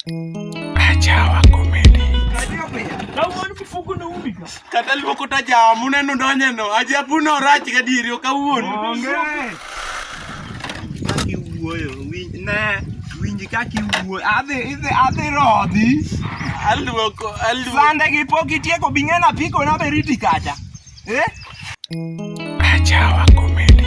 Achawa komedi. Kata luoko ta jawa muneno donye no. Aja puno rach ga diri ok awuon. Onge. Kaki wuoyo winj ne winj kaki wuoyo. Adhi idhi adhi rodhi. Aluoko aluoko. Sande gi pok itieko bing'ena piko na beriti kacha. Eh? Achawa komedi.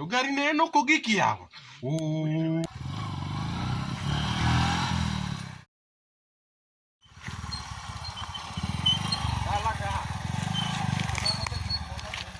To gari ne en ok ogik yawa.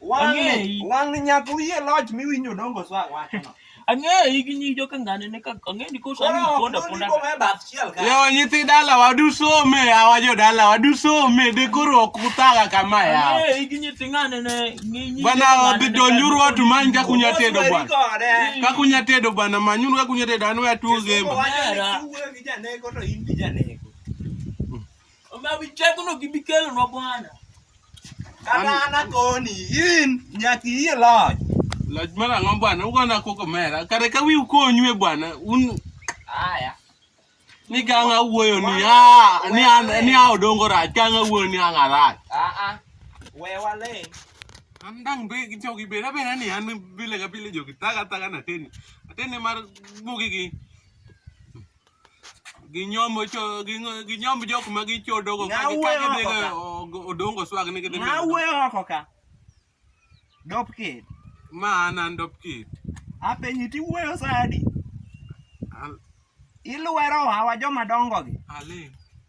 wang'ni nyaka uyie loch miwinjo odongo so awachono ang'eyi gi nyi joka ngane ne ka ang'eni ko sa ni ponda ponda leo nyithi dala wadu some awa jo dala wadu some de koro ok utaga kama ya ang'eyi gi nyithi ngane ne nyi bana odhi donjuru watu manyi ka kunya tedo bwana ka kunya tedo bwana manyuru ka kunya tedo anu ya tuo zemba Omiyo wi tekono gibi kelonwa Bwana. Kata an akoni, in nyaka iyie loch. Loch mar ang'o Bwana? Ugona koko mera. Kare ka wiu konyue Bwana, un Aya. ni kang' awuoyo ni a ni an ni a odongo rach, kang' awuoyo ni ang' arach. Aa. We waling'. An dang' be jogi beda beda ni an pile ka pile jogi taga taga na teni. Ateni mar bugi gi. ginyombo cho gingo- ginyomb jok ma gichodogo ka Ng'aw gi- ka weyo gidhigo oko ka. ogo- odongo swag ni gidhi Ng'a wuoyo oko ka? Dop kid. ma an an dop kit Apenyi ti wuoyo sadi. Al- Ilwero hawa joma dongo gi. aling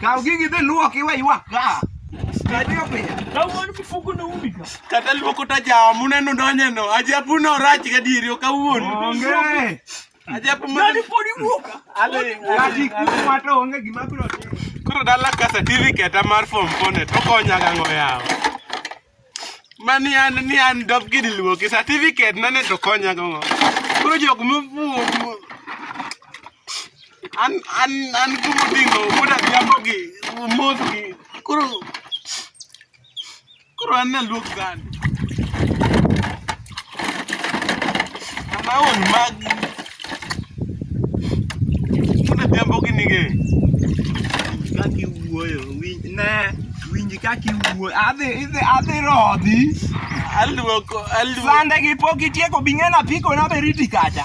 Kaw gigi dhi luok iwe ywak ka. Kadiyo pinya. Kawuono mifuko no umi ka. Kata luoko ta jawa muneno donye no. Ajabu no rach gadieri ok awuon. Onge. Ajabu ma. Nani podi wuoka. Ale. Kati kuma to onge gima biro timo. Koro dala ka certificate mar form 4 to konyaga ng'o yawo. Mani an ni an dop gini luoki certificate na ne to konya go. Koro jok mofuo an an an kumo dingo kuda jambo gi mos gi koro koro an na luok gani. Naon mag Kuna jambo gini ge. Kaki wuoyo, winj ne, winj kaki wuoyo. Adhi idhi adhi rodhi. Aluoko, aluoko. Sande gi pok itieko bing'ena piko na beriti kacha.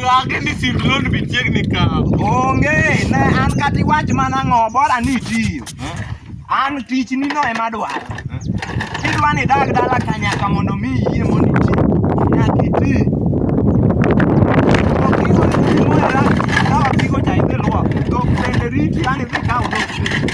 Lage ni sim loan be chiegni kawo. Onge, ne an kata iwach mana ang'o, bora ni itiyo. An tichni no ema adwaro. Kidwa ni idag dala ka nyaka mondo mi iyie mondo iti, nyaka iti. Ok idwa ni iti mondo idag, kaw apiko cha idhi luok, dhok bende riti, yani idhi kaw dhok bende.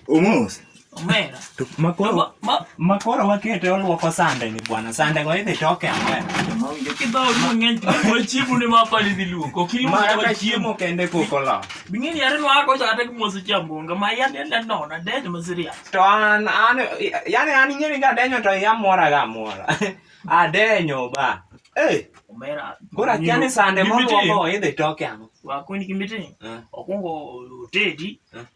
Omos. Omera. To makoro makoro wakete olwoko sande ni bwana. Sande go idhi toke ang'wen. Mawinjo kidhol mang'eny to chiemo ne mapa ni dhi luoko. Kilo mara ka chiemo kende koko la. Bing'eni yare no ako cha tek mosi chambonga ma yan yan yan nona denyo masiria. To an an yani an ing'eni ga denyo to ya mora ga mora. Adenyo ba. Eh. Omera. Gora kiani sande mo luoko idhi toke ang'o. Wakoni kimiti. Eh. Okungo tedi. Eh.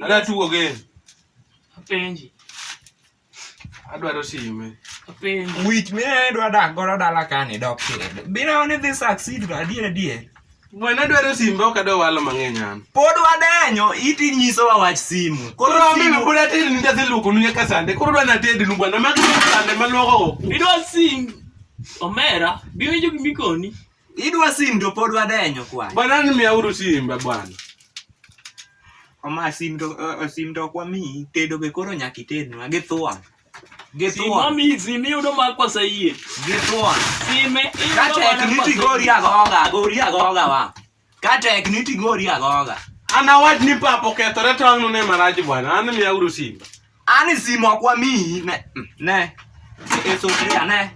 Ada tugo game. Apenji. Adwaro sime. Apenji. Wich mine dwa dak godo dala kani dok kendo. Biro ni dhi succeed to adier adier. Mwana dwaro simbe ok adwa walo mang'eny an. Pod wadenyo iti nyiso wa wach simu. Koro ambe me pod atedi ni nyathi luoko nu nyaka sande. Koro dwa natedi nu bwana magi sande maluoko. Idwa sim. Omera, biwinjo gimikoni. Idwa sim to pod wadenyo kwani. Bwana ni miauru simba bwana. Oma sim to uh, sim to kwa mi tedo be koro nyaki tednwa gi thua. Gi thua. Sima mi sim yudo ma kwa sayie. Gi thua. Sime yudo ma kwa sayie. Kata niti gori agoga, gori agoga wa. Kata niti gori agoga. Ana wach ni papo kethore tong' ne marach bwana. An miauru simba. Ani simo kwa mi ne ne eso kia ne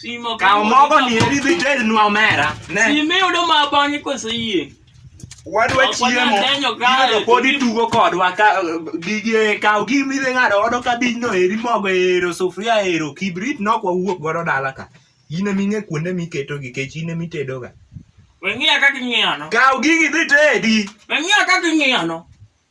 Simo ka mogo ni eri dhi ted nwa mera ne Simo yudo ma bang'e koso yie wadwa chiemo gimedo pod itugo kodwa gige kaw gimi dhi ng'ado odo kabijno eri mogo ero sufuria ero kibrit nok wawuok godo dala ka in eming'e kuonde miketo gi kech in emitedoga weng'iya kaka ing'iyano kaw gigi dhi tedi weng'iya kaka ing'iyano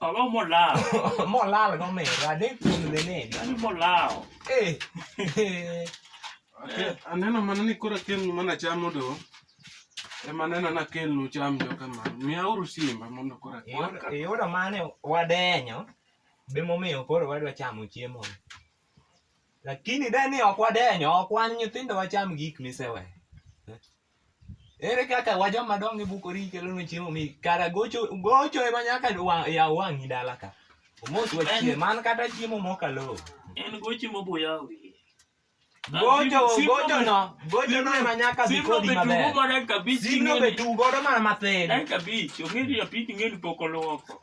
Allora mo là. mo là là con me, là dentro con le nene. Allora mo là. Eh. Aneno mana ni koro akelnu mana chamo do. Ema neno na kelnu cham jo kama. Miauru simba mondo koro akelnu. Iyudo mane wadenyo. Be momiyo koro wadwa chamo chiemo. lakini de ni ok wadenyo ok wan nyithindo wacham gik misewe ere kaka wajoma dongo e bukori kelonwa chiemo mi kara gocho gocho ema nyaka yaw wang'i dala ka omos wachie man kata chiemo mokalo en gochi mobuya wiye gocho gocho no gocho no ema nyaka bi kodi maber simno be tugo godo mana mathin en kabich ong'eyo japit ng'eni pok olwoko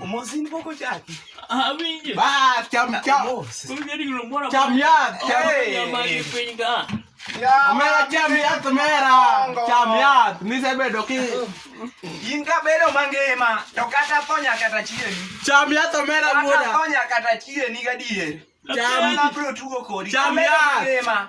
Omosi ni boko chaki. Ah, winje. Ba, cham cham. Winje ni lo mora. Cham ya. Cham ma ni pinga. Ya. Mera cham ya to mera. Cham ya. Ni se bedo ki. In ka bedo mangema to kata ponya kata chie. Cham ya to mera muda. Kata ponya kata chie ni gadier. Cham ya. Cham ya.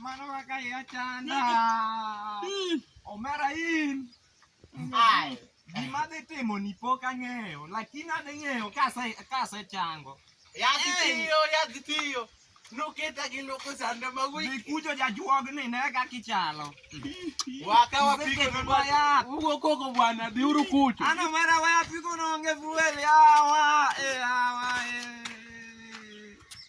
Manawa kaya chanda. Omera in. Ai. Gima dhi timo ni pok ang'eyo, lakini adhi ng'eyo kase kase chango. Yadhi tiyo, yadhi tiyo. Nuketa gi nuku sanda ma wiki. Nikujo jajuog ni ne ka kichalo. Waka wapige ni bwana. Ugo koko bwana, biuru kucho. Ana mara waya pigo nonge fuel yawa. Eh, yawa.